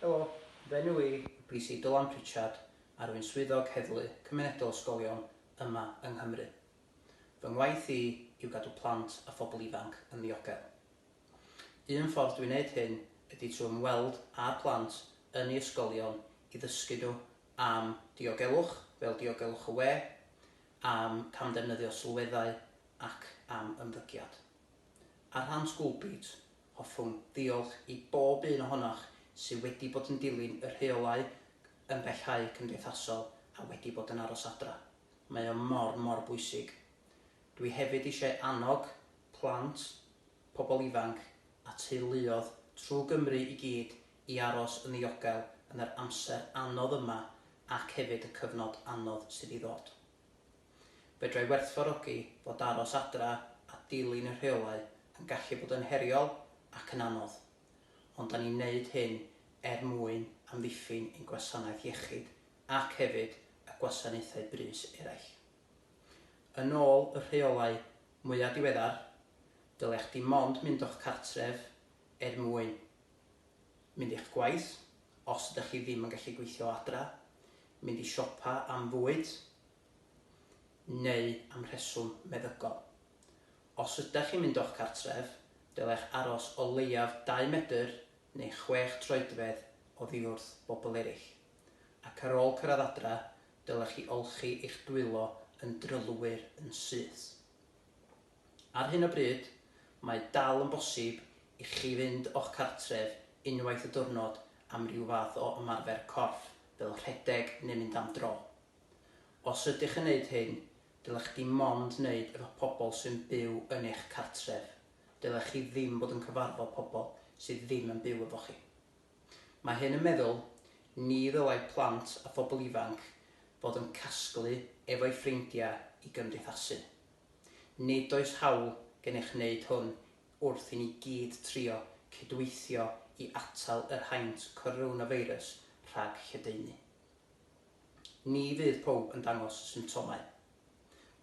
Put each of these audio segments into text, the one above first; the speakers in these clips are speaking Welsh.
Helo, fy enw i yw PC Dylan Pritchard a rwy'n Swyddog Heddlu Cymunedol Ysgolion yma yng Nghymru. Fy ngwaith i yw gadw plant a phobl ifanc yn ddiogel. Un ffordd dwi'n wneud hyn ydy trwy ymweld â'r plant yn ei ysgolion i ddysgu nhw am diogelwch, fel diogelwch y we, am camddefnyddio sylweddau ac am ymddygiad. Ar rhan School Beat, Hoffwn ddiolch i bob un ohonoch sydd wedi bod yn dilyn y rheolau ymbellhau cymdeithasol a wedi bod yn aros adra. Mae o mor, mor bwysig. Dwi hefyd eisiau annog plant, pobl ifanc a teuluoedd trwy Gymru i gyd i aros yn ddiogel yn yr amser anodd yma ac hefyd y cyfnod anodd sydd i ddod. Fedrai werthfawrogi fod aros adra a dilyn y rheolau yn gallu bod yn heriol ac yn anodd, ond da ni'n wneud hyn er mwyn amddiffyn ein gwasanaeth iechyd ac hefyd y gwasanaethau brys eraill. Yn ôl y rheolau mwya' diweddar, dylech dim ond mynd o'ch cartref er mwyn mynd i'ch gwaith, os ydych chi ddim yn gallu gweithio o adra, mynd i siopa am fwyd, neu am rheswm meddygol. Os ydych chi'n mynd o'ch cartref, dylech aros o leiaf 2 medr neu 6 troedfedd oddiwrth bobl eraill, ac ar ôl cyrraedd adra, dylech chi olchi eich dwylo yn drylwyr yn syth. Ar hyn o bryd, mae dal yn bosib i chi fynd o'ch cartref unwaith y diwrnod am ryw fath o ymarfer corff fel rhedeg neu mynd am dro. Os ydych yn wneud hyn, dylech dim ond wneud efo pobl sy'n byw yn eich cartref, dylech chi ddim bod yn cyfarfod pobl sydd ddim yn byw efo chi. Mae hyn yn meddwl, ni ddylai plant a phobl ifanc fod yn casglu efo'u ffrindiau i gymdeithasu. Nid oes hawl gennych wneud hwn wrth i ni gyd trio cydweithio i atal yr haint coronafeirws rhag lledaenu. Ni fydd pawb yn dangos symptomau.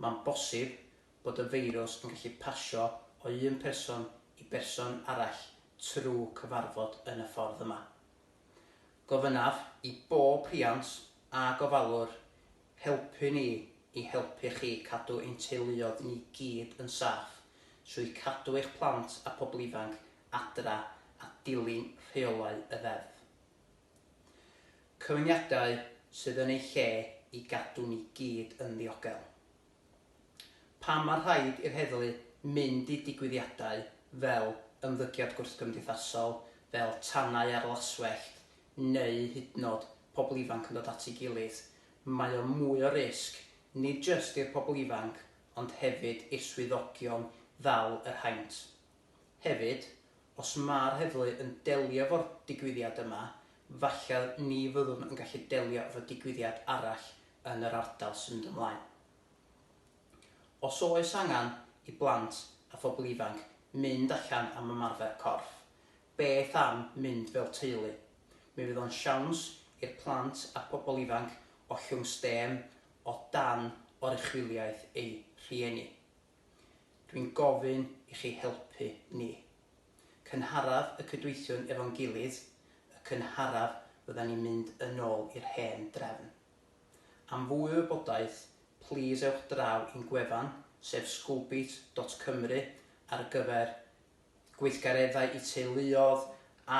Mae'n bosib bod y feirws yn gallu pasio o un person i berson arall trwy cyfarfod yn y ffordd yma. Gofynnaf i bob rhiant a gofalwr Helpu ni i helpu chi cadw ein teuluoedd ni gyd yn saff trwy cadw eich plant a pobl ifanc adra a dilyn rheolau y Ddeddf. Cyfyngiadau sydd yn eu lle i gadw ni gyd yn ddiogel. Pam mae rhaid i'r heddlu mynd i digwyddiadau fel ymddygiad gwrthgymdeithasol, fel tanau ar laswellt, neu hydnod pobl ifanc yn dod at ei gilydd, mae o mwy o risg, nid jyst i'r pobl ifanc ond hefyd i'r swyddogion ddal yr haint. Hefyd, os mae'r heddlu yn delio efo'r digwyddiad yma, falle ni fyddwn yn gallu delio efo digwyddiad arall yn yr ardal sy'n mynd ymlaen. Os oes angen i blant a phobl ifanc mynd allan am ymarfer corff, Beth am mynd fel teulu? Mi fydd o'n siawns i'r plant a'r pobl ifanc ollwng stêm o dan oruchwyliaeth eu rhieni. Dwi'n gofyn i chi helpu ni. Cynharaf y cydweithiwn efo'n gilydd, y cynharaf fyddan ni'n mynd yn ôl i'r hen drefn. Am fwy o wybodaeth, plîs ewch draw i'n gwefan, sef schoolbeat dot cymru ar gyfer gweithgareddau i teuluoedd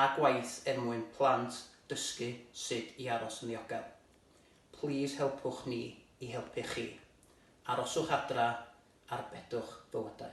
a gwaith er mwyn plant dysgu sut i aros yn ddiogel. Plîs helpwch ni i helpu chi. Aroswch adra, arbedwch bywydau.